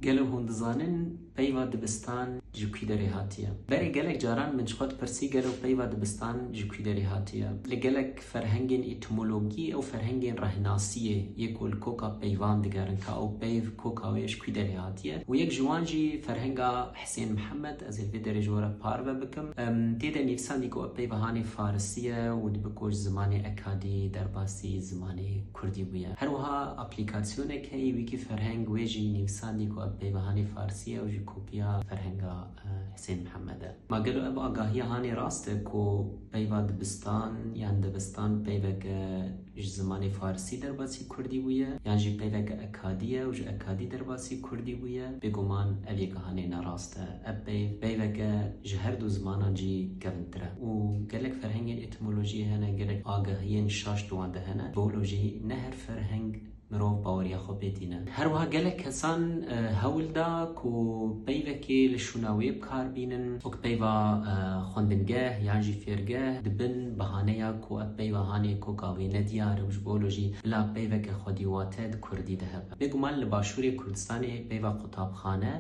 Gelo hûn dizanin peyva dibistan ji kûî derê hatiye? Berê gelek caran min ji xwe dipirsî gelo peyva dibistan ji kûî derê hatiye? Li gelek ferhengên îtimologî ew ferhengên rehnasiyê yê ku li koka peyvan digerin ka ew peyv koka wê ji kûî derê hatiye û yek ji wan jî ferhenga Hisên Mihemed ez ê li vê derê ji we re parve bikim. Tê de nivîsandî ku ev peyva hanê farisî ye û dibe ku ji zimanê ekadî derbasî zimanê Kurdî bûye. Her wiha aplîkasyoneke ye Wîkîferheng wê jî nivîsandî ku ev peyva hanê farsî ye û jî kopîya ferhenga Hisên Mihemed e. Ma gelo ev agahîya hanê rast e ku peyva dibistan yan debistan peyveke ji zimanê farsî derbasî kurdî bûye yan jî peyveke ekadî ye û ji ekadî derbasî kurdî bûye? Bêguman ev yeka hanê nerast e. Ev peyv peyveke ji herdu zimanan jî kevintir e û gelek ferhengên Epistemolojiyê hene gelek agahiyên şaş di wan de hene. Bi wilo jî ne her ferheng mirov baweriya xwe pê tîne. Her wiha gelek kesan hewl da ku peyvekê li şûna wê bi kar bînin. Wek peyva xwendingeh yan jî fêrgeh di bin bihaneya ku ev peyva hanê koka wê ne diyar e û ji bo wilo jî bila peyveke xwedî wate di kurdî de hebe. Bêguman li başûrê Kurdistanê peyva qutabxane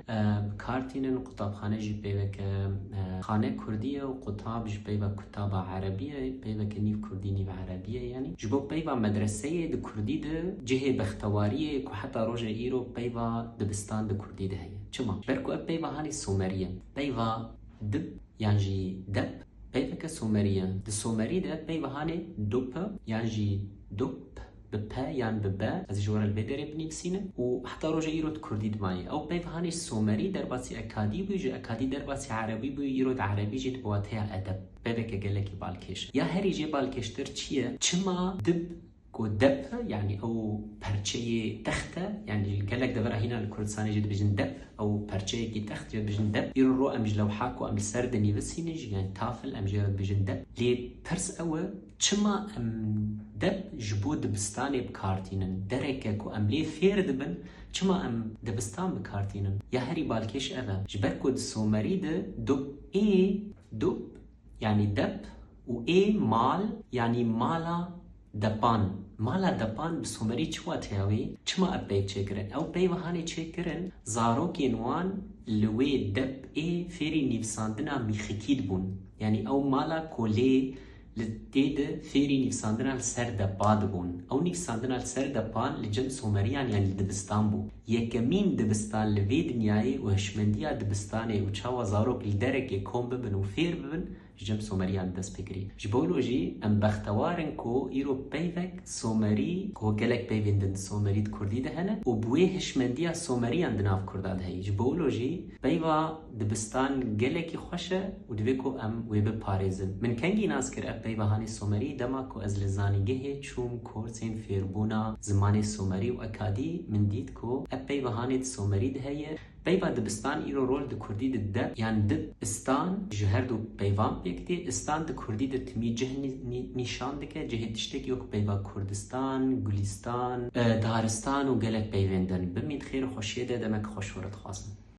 bi kar tînin. Qutabxane jî peyveke xane kurdî ye û qutab ji peyva Taba erebîye pey veke nîv kurdî nîv erebîye yanî ji bo peyva medreseyê di kurdî di cihê bextewarîyê ku heta roje îro peyva dibistan di kurdî di heye. Çima? Ji ber ku ev peyva hanî somerî ye. Peyva dib yan jî dep peyveke somerî ye. Di somerî de peyva hanê dop yan jî dop Bi pe yan bi be, ez ê ji we re li vê derê binivîsînim û heta roja îro di kurdî dimayê. Ew peyv hanê ji somerî derbasî ekadî bû, ji ekadî derbasî erebî bû, îro di erebî jî di bi wateya edeb. Peyveke gelekî balkêş e. Ya herî jê balkêştir çi ye? Çima dib ku dep e, yanî ew perçeyê text e, yanî gelek devera hîna li Kurdistanê jê dibêjin dep, ew perçeyekî text jê dibêjin dep. Îro ro em ji lewha ku em li ser dinivîsînin jî yanî tafl em jê re dibêjin dep. Lê pirs ew e Çima em deb ji bo dibistanê bi kar tînin? Dereke ku em lê fêr dibin, çima em dibistan bi kar tînin? Ya herî balkêş ev e. Ji ber ku di Somerî de dub ê, dub, yanî dep û ê, mal, yanî mala depan. Mala depan bi Somerî çi wateya wê? Çima ev peyv çêkirin? Ew peyv hanê çêkirin, zarokên wan li wê dep ê fêrî nivîsandina mîxikî dibûn. Yanî ew mala kolê, Li tê de fêrî nivîsandina li ser depa dibûn. Ew nivîsandina li ser depan li cem Someriyan yan li dibistan bû. Yekemîn dibistan li vê dinyayê û hişmendiya dibistanê û çawa zarok li derekê kom bibin û fêr bibin ji cem Someriyan dest pê kirî. Ji bo lo jî em bextewar in ku îro peyvek Somerî ku gelek peyvên din Somerî di Kurdî de hene û bi wê hişmendiya Someriyan di nav Kurda de heye. Ji bo lo jî peyva. Dibistan gelekî xweş e û divê ku em wê biparêzin. Min kengî nas kir ev peyvahanê somerî dema ku ez li zanîngehê çûm korsên fêrbûna zimanê somerî û ekadî min dît ku ev peyvahanê di somerî de heye. Peyva dibistan îro rol di kurdî de deb yan dib, istan ji her du peyvan pêk tê. Istan di kurdî de timî cih nîşan dike, cihê tiştekî wek peyva kurdistan, gulîstan, daristan û gelek peyvên din. Bimîn xêr û xweşiyê de demek xweş we re dixwazim.